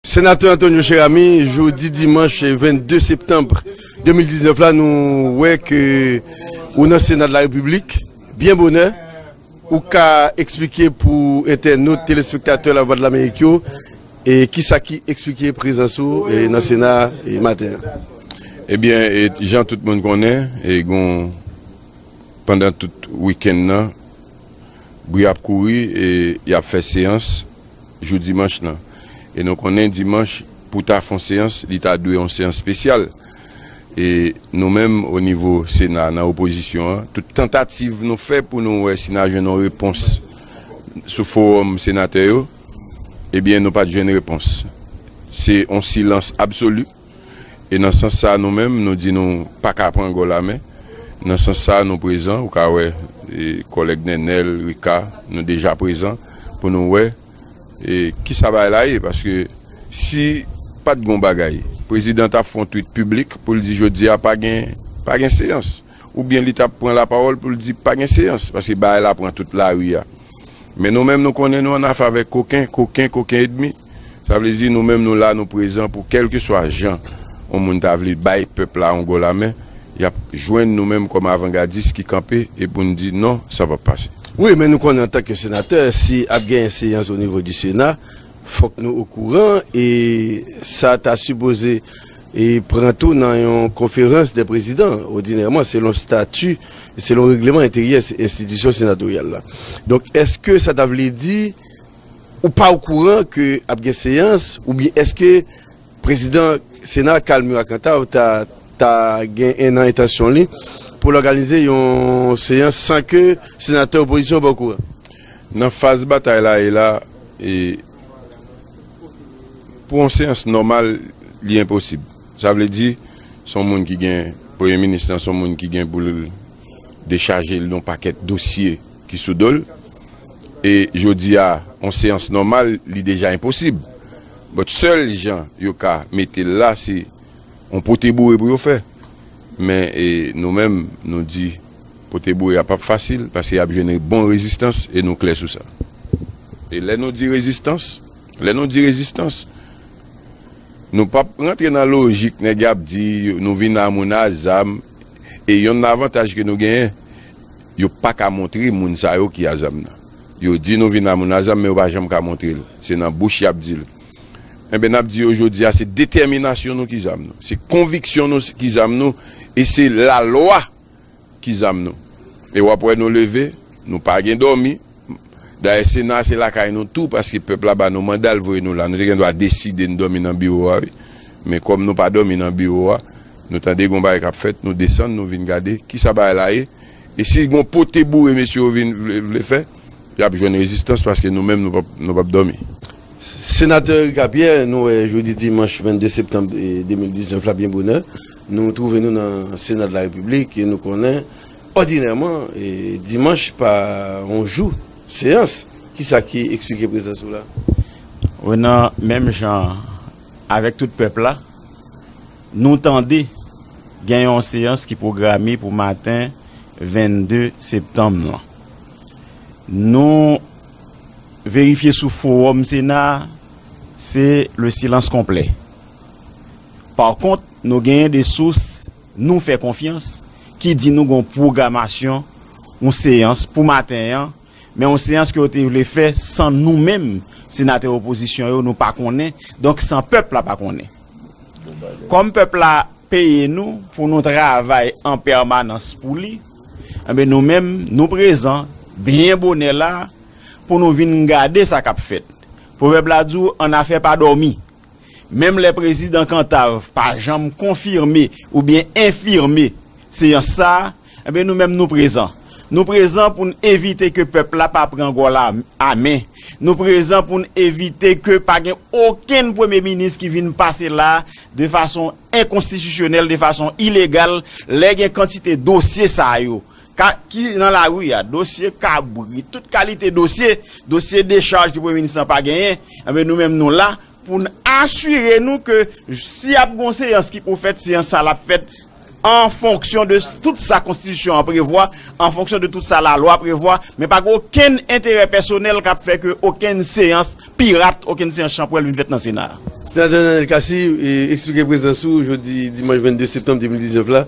Senatè Antonio Cheramy, jodi dimanch 22 septanb 2019 la nou wè ke ou nan sena de la repiblik, byen bonè, ou ka eksplike pou entènot, telespektatè la vwa de lamerik yo, e kisa ki eksplike prezans ou nan sena maten an. Ebyen, jan tout moun konnen, e gon pandan tout wikenn nan, bri ap kouri e yap fè seyans, jou dimanch lan e nou konnen dimanch pou ta fon seyans li ta dwe yon seyans spesyal e nou menm o nivo sena nan opozisyon an tout tantativ nou fè pou nou wè si na jwenn yon repons sou forom senatè yo ebyen nou pat jwenn repons se yon silans absoli. E nan sans sa nou menm nou di nou paka pran gòl a men, nan sans sa nou prezan, ou ka wè kòlèg Nènèl, Rika, nou deja prezan pou nou wè kisa bagay la ye. Paske si pat gon bagay, prezidan ta fon twit piblik pou l di jodi a pa gen pa gen seyans. Oubyen li ta pran lapawòl pou l di pa gen seyans. Paske bagay la pran tout lari a. Men nou menm nou konnen nou annafè avèk koken, koken, koken edmi. Sa vle di nou menm nou la, nou prezan pou kèlkeswa jan yon moun ta vle bay pèp la yon gò lamen, y ap jwenn nou menm kòm avangadis ki kanpe e pou n di non, sa p ap pase. Wi, men nou konnen antanke senatè, si ap genyen seyans onivo di Sena, fòk nou okouran e sa ta sipoze. e pran tou nan yon konferans dè prezidan odinèman selon stati e selon regleman enteryè enstitisyon senatoryal la. Donk, èske sa ta vle di ou pa okouran ke ap gen seyans oubyen èske prezidan sena Carl Murat Cantave ta ta gen nan entansyon li pou l òganize yon seyans san ke senatè opozisyon yo pa okouran? Nan faz batay la e la e. Pou yon seyans nòmal, li enposib. Sa vle di, se yon moun ki gen, premye minis lan se yon moun ki gen pou l dechaje l yon pakèt dosye ki sou do l. E jodi a, yon seyans nòmal, li deja enposib. But, sèl jan yo ka mete l la, se yon pote boure pou yo fè. Men, nou menm, nou di. Pote bourik a pap fasil paske yap jwenn bon rezistans e nou klè sou sa. E lè nou di rezistans, lè nou di rezistans, nou pap rantre nan lojik nèg yap di nou vin a moun a zam e yonn nan avantaj ke nou genyen yo paka montre moun sa yo ki a zam nan. Yo di nou vin a moun a zam men yo pa janm ka montre l. Se nan bouch yap di l. Enben nap di yo jodi a se detèminasyon nou ki zam nou. Se konviksyon nou ki zam nou e se lalwa. Ki zam nou? E wap wè nou leve, nou pa gen dòmi. Dayè sena a se lakay nou tou paske pèp la ba nou manda l voye nou la. Nou te gen dwa deside n dòmi nan biwo a wi. Men kòm nou pa dòmi nan biwo a, nou tande gon bagay kap fèt, nou desann nou vin gade kisa bagay la ye. E si gon pote boure mesye yo vin vle fè, yap jwenn rezistans paske nou menm nou pap dòmi. Senatè Ricapierre, nou wè jodi dimanch 22 septanm 2019 la byen bonè. Nou twouve nou nan Sena de la Repiblik e nou konnen òdinèman dimanch pa yon jou seyans. Kisa ki eksplike prezans ou la? Renan, menm jan avèk tout pèp la, nou tande gen yon seyans ki pwograme pou maten 22 septanm lan. Nou verifye sou fowòm Sena a, se le silans konplè. Pa kont, nou genyen de sous nou fè konfyans ki di nou gen yon pwogramasyon yon seyans pou maten an, men yon seyans ke yo te vle fè san nou menm senatè opozisyon yo nou pa konnen, donk san pèp la pa konnen. Kòm pèp la peye nou pou nou travay an pèmanans pou li, enben nou menm nou prezan byen bonè la pou nou vin gade sa k ap fèt. Pwovèb la di w annafè pa dòmi. Menm lè Prezidan Kantav pa janm konfime oubyen enfime seyans sa, enben nou menm nou prezan. Nou prezan pou n evite ke pèp la pa pran gòl a men. Nou prezan pou n evite ke pa gen okenn Premye Minis ki vin pase la de fason enkonstitisyonèl, de fason ilegal, lè gen kantite dosye sa yo. Ka ki nan lari a, dosye kabrit, tout kalite dosye, dosye dechaj ke Premye Minis lan pa genyen, enben nou menm nou la pou n asire nou ke si ap gen yon seyans ki pou fèt, seyans sa l ap fèt an fonksyon de tout sa Konstitisyon an prevwa, an fonksyon de tout sa lalwa prevwa, men pa gen okenn enterè pèsonèl k ap fè ke okenn seyans pirat, okenn seyans chanpwèl vin fèt nan Sena a. Senatè Nanel Cassy, eksplike prezans ou jodi dimanch 22 septanm 2019 la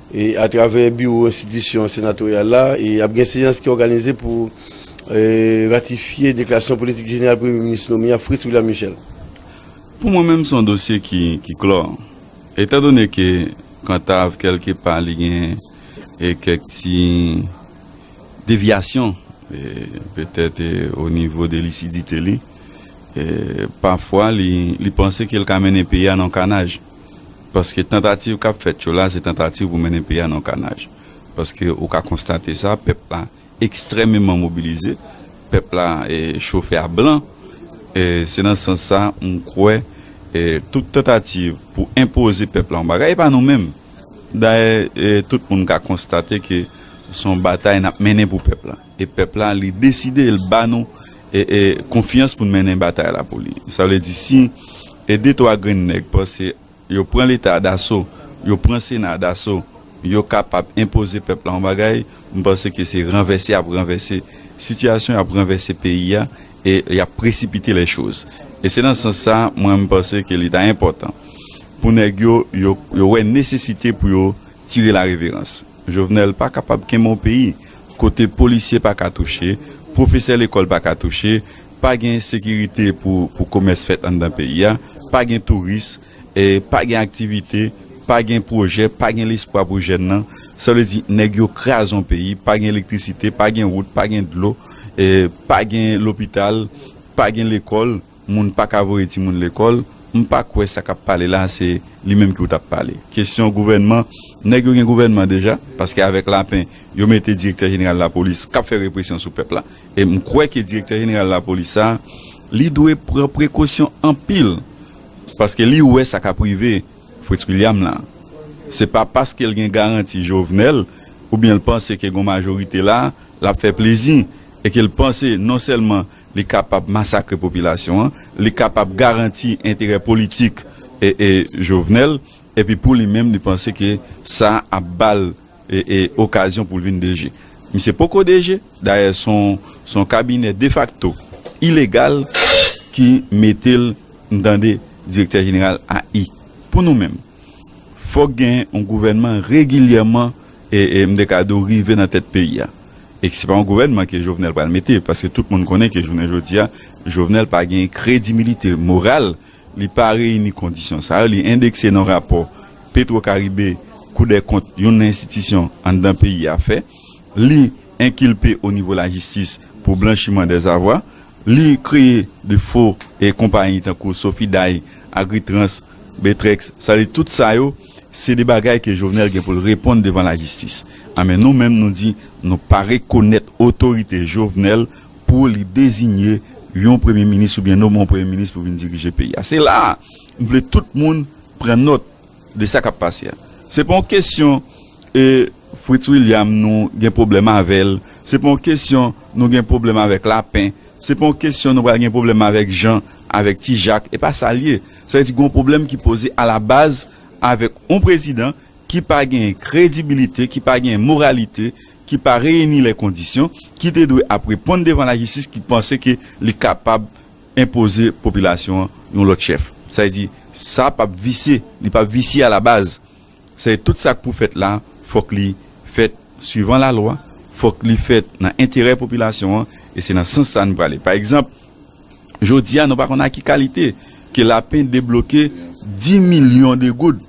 E atravè biwo enstitisyon senatoryal la, ap gen seyans ki òganize pou ratifye deklarasyon politik jeneral premye minis nome a Fritz William Michel. Pou mwen menm se yon dosye ki klò. Etandone ke Kantav kèlke pa li gen kèk ti devyasyon petèt o nivo de lisidite li, pafwa li panse ke li ka mennen peyi a nan kanaj. Paske tantativ kap fèt yo la se tantativ pou mennen peyi a nan yon kanaj. Paske ou ka konstate sa, pèp la ekstrèmeman mobilize, pèp la chofe a blan. Se nan sans sa m kwè tout tantativ pou enpoze pèp la yon bagay, e pa nou menm. Dayè tout moun ka konstate ke son batay nap mennen pou pèp la. E pèp la li deside l ba nou konfyans pou n mennen batay la pou li. Sa vle di si 2 3 grenn nèg panse yo pran leta daso, yo pran sena daso, yo kapab enpoze pèp la yon bagay, m panse ke se ranvèse y ap ranvèse sitiyasyon, y ap ranvèse peyi a e y ap presipite lè choz. E se nan sans sa mwen m panse ke li ta enpòtan pou nèg yo yo wè nesesite pou yo tire la reverans. Jovenel pa kapab kenbe yon peyi. kote polisye pa ka touche, pwofesè lekòl pa ka touche, pa gen sekirite pou komès fèt anndan peyi a, pa gen touris, pa gen aktivite, pa gen pwojè, pa gen lespwa pou jèn nan, sa vle di nèg yo kraze yon peyi, pa gen elektrisite, pa gen wout, pa gen dlo, pa gen lopital, pa gen lekòl. Moun paka voye timoun lekol, m pa kwè sa kap pale la se li menm ki ou tap pale. Kesyon gouvènman, nèg yo gen gouvènman deja, paske avèk Lapin yo mete direktè jeneral lapolis kap fè represyon sou pèp la. E m kwè ke direktè jeneral lapolis sa li dwe pran prekosyon anpil paske li wè sa kap rive Fritz William la. Se pa paske l gen garanti Jovenel oubyen l panse ke gon majorite la lap fè plezi e ke l panse non sèlman li kapab masakre popilasyon an, li kapab garanti enterè politik Jovenel, epi pou li menm li panse ke sa ap ba l okazyon pou l vin DG. Misye poko DG, dayè s on kabinè defakto ilegal ki mete l, n tande, direktè jeneral AI. Pou nou menm. Fòk gen yon gouvènman regilyèman e m te ka di w rive nan tèt peyi a. E se pa yon gouvènman ke Jovenel pral mete, paske tout moun konnen ke jounen jodi a, Jovenel pa gen kredimilite moral, li pa reyini kondisyon sa yo, li endekse nan rapò Petwokaribe, Koudèkont, yon nan enstitisyon anndan peyi a fè. li enkilpe o nivo lajistis pou blanchiman dèzavwa, li kreye de fo e konpayi tankou Sofiday, Agritrans, Betrex, sa vle di tout sa yo se de bagay ke Jovenel gen pou l reponn devan lajistis. A men nou menm nou di nou pa rekonèt otorite Jovenel pou li dezinye yon premye minis oubyen nomen yon premye minis pou vin dirije peyi a. Se la a m vle tout moun pran nòt. de sa kap pase a se pa yon kesyon e Fritz William nou gen pwoblèm avèl se pa yon kesyon nou gen pwoblèm avèk Lapin se pa yon kesyon nou pral gen pwoblèm avèk Jean avèk ti Jacques e pa sa li ye sa vle di gen yon pwoblèm ki poze ala baz avèk yon prezidan ki pa gen kredibilite ki pa gen moralite ki pa reyini lè kondisyon ki te dwe ap reponn devan lajistis ki panse ke li kapab. enpoze popilasyon an yon lòt chèf. Sa vle di, sa pap visye, li pap visye a la baz. Sa vle di tout sa k pou fèt la, fòk li fèt swivan la lwa, fòk li fèt nan enterè popilasyon an e se nan sans sa nou prale. Pa egzanp, jodi a nou pa konn a ki kalite ke Lapen debloke 10 milyon de goud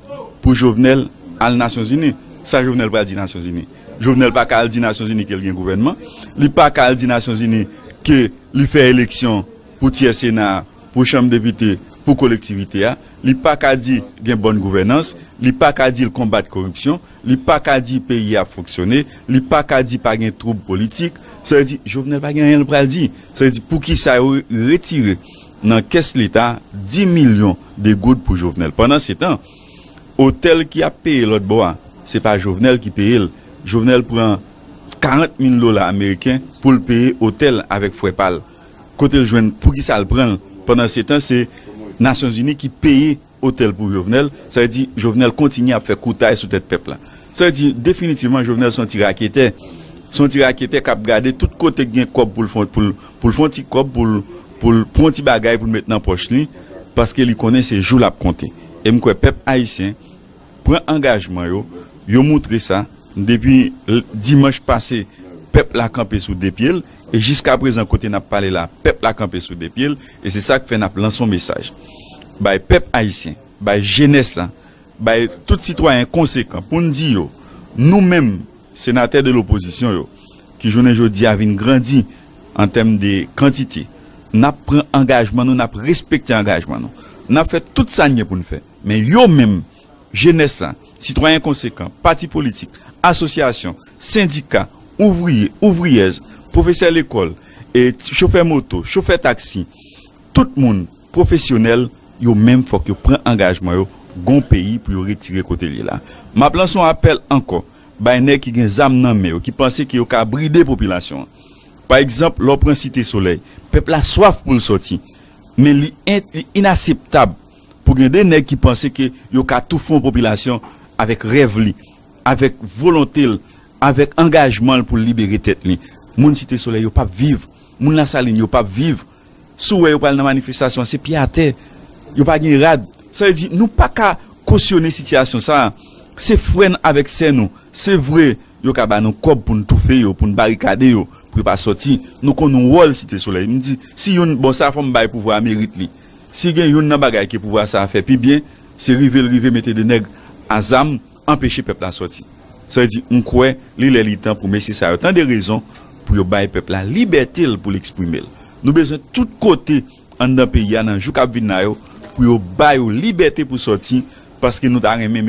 pou Jovenel al Nasyon Zini. Sa Jovenel pral di Nasyon Zini? Jovenel pa ka al di Nasyon Zini ke l gen gouvènman, li pa ka al di Nasyon Zini ke Li fè eleksyon pou tyè Sena a, pou Chanm Depite, pou kolektivite a. Li pa ka di gen bòn gouvènans, li pa ka di l konbat koripsyon, li pa ka di peyi a ap fonksyone, li pa ka di pa gen twoub politik. Sa vle di Jovenel pa gen anyen l pral di. Sa vle di pou ki sa yo retire nan kès leta 10 milyon de goud pou Jovenel pandan se tan. Otèl ki ap peye lòt bò a se pa Jovenel ki peye l, Jovenel pran 40 mil dola ameriken pou l peye otèl avèk frè pa l, kote l jwenn poukisa l pran l pandan se tan se nasyon zini ki peye otèl pou Jovenel, sa vle di Jovenel kontinye ap fè koutay sou tèt pèp la. Sa vle di definitivman Jovenel son ti raketè, son ti raketè kap gade tout kote k gen kòb pou l fon pou l fon ti kòb pou l pou l pran ti bagay pou l met nan pòch li paske li konnen se jou l ap konte. E m kwè pèp ayisyen pran angajman yo, yo moutre sa depi dimanch pase pèp la kanpe sou 2 pye l e jiskaprezan kote n ap pale la pèp la kanpe sou 2 pye l e se sa k fè n ap lanse yon mesaj bay pèp ayisyen, bay jenès la, bay tout sitwayen konsekan pou n di yo nou menm senatè de lopozisyon yo ki jounen jodi a vin grandi An tèm de kantite, n ap pran angajman nou, n ap respekte angajman nou. N ap fè tout sa n gen pou n fè. Men yo menm, jenès la, sitwayen konsekan, pati politik, asosyasyon, sendika, ouvriye, ouvriyèz, pwofesè lekòl, chofè moto, chofè taksi, tout moun pwofesyonèl, yo menm fòk yo pran angajman yo gon peyi pou yo retire kote l ye la. M ap lanse yon apèl ankò bay nèg ki gen zam nan men yo, ki panse ke yo ka bride popilasyon an. Pa egzanp, lè w pran Site Solèy, pèp la swaf pou l sòti, men li inaseptab pou gen de nèg ki panse ke yo ka toufe yon popilasyon avèk rèv li, avèk volonte l, avèk angajman l pou l libere tèt li. Moun Site Solèy yo p ap viv, moun Lasalin yo p ap viv. Si w wè yo pral nan manifestasyon an se pye atè, yo pa gen rad. Sa vle di nou pa ka kosyone sitiyasyon sa a. Se frè n avèk sè nou. Se vre, yo ka ba nou kòb pou n toufe yo, pou n barikade yo, pou yo pa sòti. Nou konn wòl Site Solèy. M di, si youn, bon sa fò m bay pouvwa a merit li. Si gen youn nan bagay ke pouvwa sa a fè pi byen, se rive l rive mete de nèg a zam, Anpeche pèp la sòti. Sa vle di, m kwè li lè li tan pou mesye sa yo tande rezon, pou yo bay pèp la libète l pou l eksprime l. Nou bezwen tout kote anndan peyi a nan jou k ap vin la yo pou yo ba yo libète pou sòti paske nou ta renmen.